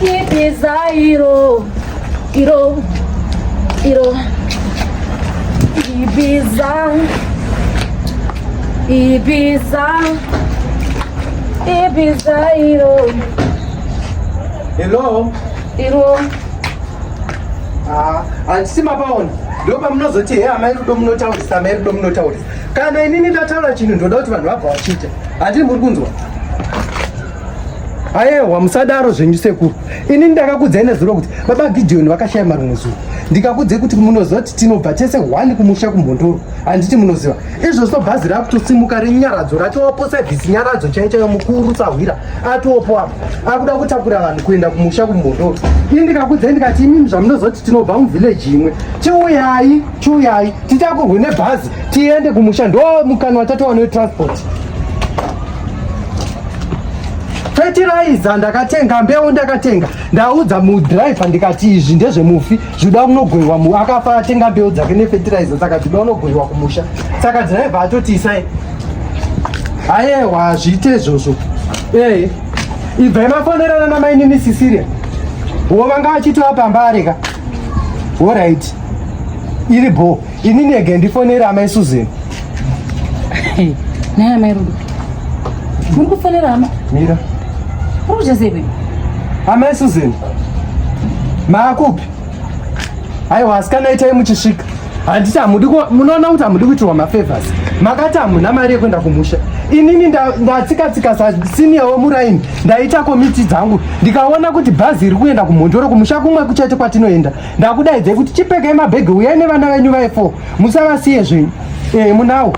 Ibizairo, iro, iro, Ibiza, Ibiza, Ibizairo. Hello. Iro. Ah, handisi mapaona ndopa munozoti he amai rudo munotaurisa amai rudo munotaurisa kana inini ndataura chinhu ndoda kuti vanhu vabva vachiita handii muri kunzwa ayewa musadaro zvenyu sekuru ini ndakakudzai nezuro kuti baba gidhiyoni vakashaya mari mumwe zuva ndikakudzai kuti munoziva kuti tinobva tese hwani kumusha kumhondoro handiti munoziva izvozvo bhazi rakutosimuka renyaradzo ratowapo sevhisi nyaradzo chai chaiyo mukuru sahwira atopo apa akuda kutakura vanhu kuenda kumusha kumhondoro ini ndikakudzai ndikati imimi zvamunoziva kuti tinobva muvhileji imwe chiuyai chiuyai titakurwe nebhazi tiende kumusha ndo mukana watatowa netransport fetiraiza ndakatenga mbeu ndakatenga ndaudza mudriver ndikati izvi ndezvemufi zvuda unogoiwa mu akafa atenga mbeu dzake nefetiraiza saka zvuda unogoiwa kumusha saka driver atoti isai ayewa hazviite izvozvo ee ibvai mafonerana namainini sisiria wo vanga vachitova pamba areka horaiti iri bho ini nege ndifonere amai susan naye amai rudo muri kufonera hama mira uri kuchaseve amai susan maakupi aiwa asikana itai muchisvika handiti hamudi munoona kuti hamudi kuitirwa mafavors makati hamuna mari yekuenda kumusha inini ndatsikatsika sasiniya wemuraini ndaita komiti dzangu ndikaona kuti bhazi iri kuenda kumhondoro kumusha kumwe kuchete kwatinoenda ndakudaidzai kuti chipekai mabhegi uyai nevana venyu vaifo musavasiye zvenyu ee eh, munawo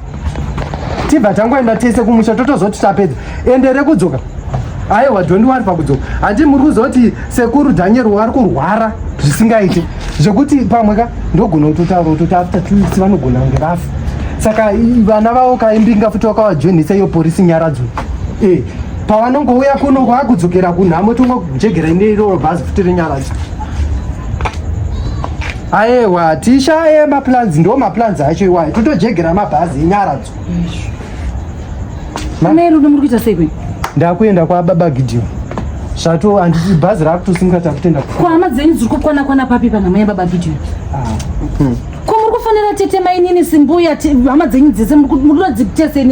tibva tangoenda tese kumusha totozoti tapedza ende rekudzoka aiwa don't worry pakudzoka handi muri kuzoti sekuru daniel wari kurwara zvisingaiti zvekuti pamwe ka ndogona kutotaura kutoti after two weeks vanogona kunge vafa saka vana vavo kaimbinga futi wakavajoinisa iyo porisi nyaradzo ee eh, pavanongouya kuno kwakudzokera kunhamo tongojegera ine iroro bhazi futi renyaradzo aewa tishaye maplans ndo maplans acho iwayo totojegera mabhazi enyaradzo mai rudo muri kuita sei kweni ndakuenda kwababa gideon zvato handiti bhazi rakutosimukata kutenda kuhama dzenyu dziri kukwana kwana papi panhamo yababa gideon ah. hmm. ko muri kufonera tete mainini simbuya hama dzenyu dzese murikuda dzitese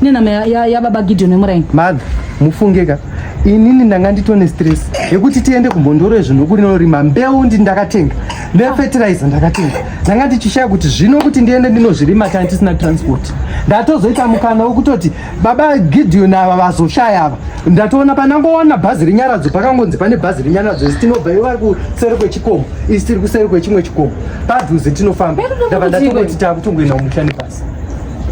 nenhama yababa gideon emuraini mother mufunge ka inini ndanga nditone stress yekuti tiende kumbondoro yezvinhu kurinorima mbeu ndi ndakatenga nefetiraiza ndakatenga ndanga ndichishaya kuti zvino kuti ndiende ndinozvirima kana tisina transport ndatozoita mukana wekutoti baba Gideon ava vazoshaya ava ndatoona panangoona bhazi renyaradzo pakangonzi pane bhazi renyaradzo isi tinobva ivo vari kuseri kwechikomo isi tiri kuseri kwechimwe chikomo padhuze tinofamba ndava ndatongoti takutongoenda kumusha nebhazi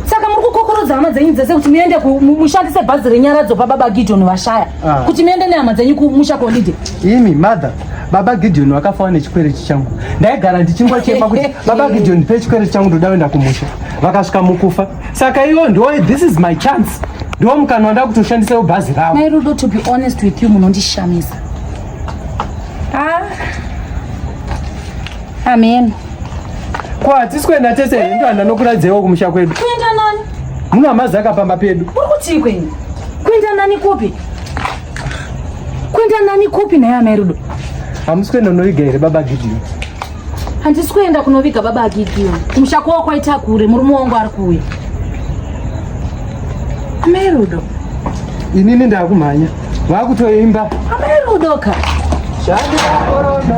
saka muri kukokorodza hama dzenyu dzese kuti muende mushandise bhazi renyaradzo pababa Gideon vashaya ah. kuti muende nehama dzenyu kumusha kolide imi mother baba Gideon wakafawa nechikwereti changu ndaigara ndichingochema kuti baba Gideon pe chikwereti changu ndoda kuenda kumusha vakasvika mukufa saka iwo ndo this is my chance ndo mukana wanda kutoshandisawo bhazi ravo mai rudo to be honest with you munondishamisa ah. amen ko hatisi kuenda tese here ndo handanokuradzaiwo kumusha kwedu kuenda nani muno amazaka pamba pedu uri kutii kwenyu kuenda nani kupi kuenda nani kupi naye amai rudo hamusi kuenda unoviga here baba gidhiyo handisi kuenda kunoviga baba agideon kumusha kwavo kwaita kure murume wangu ari kuuya amai rudo inini ndakumhanya vakutoimba amai rudo ka zvandikakorona